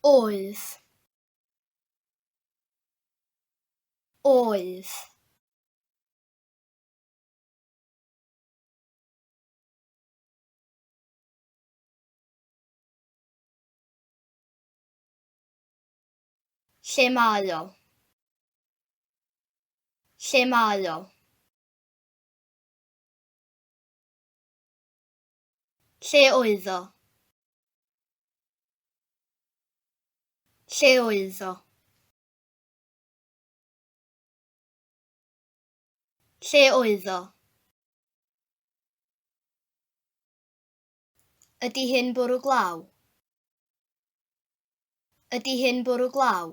Oedd. Oedd. Lle mae o? Lle mae o? Lle oedd o? Lle oedd o? Lle oedd o? Ydy hyn bwrw glaw? Ydy hyn bwrw glaw?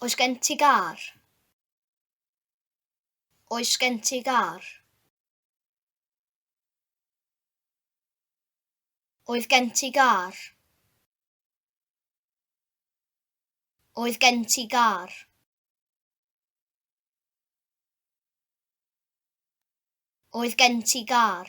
Oes gen ti gar? Oes gen ti gar? Oedd gen ti gar? Oedd gen ti gar? Oedd gen ti gar?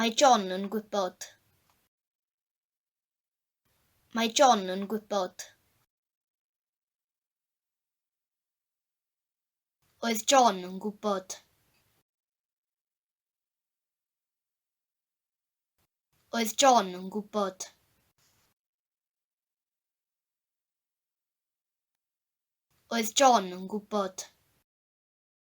Mae John yn gwybod. Mae John yn gwybod. Oedd John yn gwybod. Oedd John yn gwybod. Oedd John yn gwybod.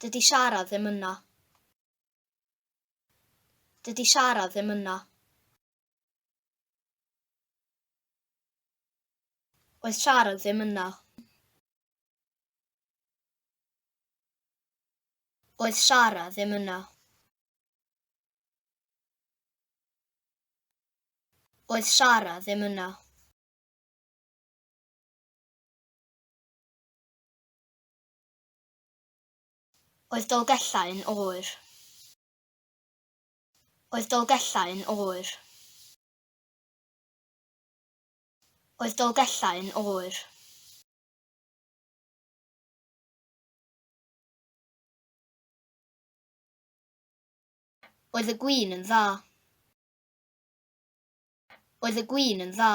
Dydy siarad ddim yna. Dydy siarad ddim yna. Oedd siarad ddim yna. Oedd siarad ddim yna. Oedd Sara ddim yna. Oedd Dolgellau yn oer? Oedd Dolgellau yn oer? Oedd Dolgellau yn oer? Oedd y gwin yn dda? Oedd y gwin yn dda?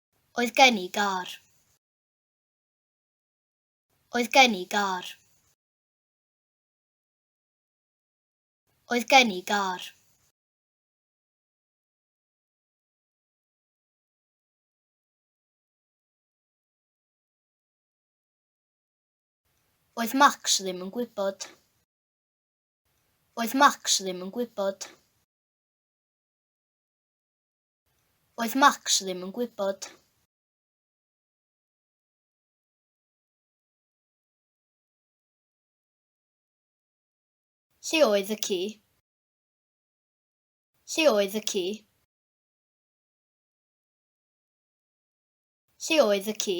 Oedd gen i gar. Oedd gen i gar. Oedd gen i gar. Oedd Max ddim yn gwybod. Oedd Max ddim yn gwybod. Oedd Max ddim yn gwybod. Lle oedd y ci? Lle oedd y ci? Lle oedd y ci?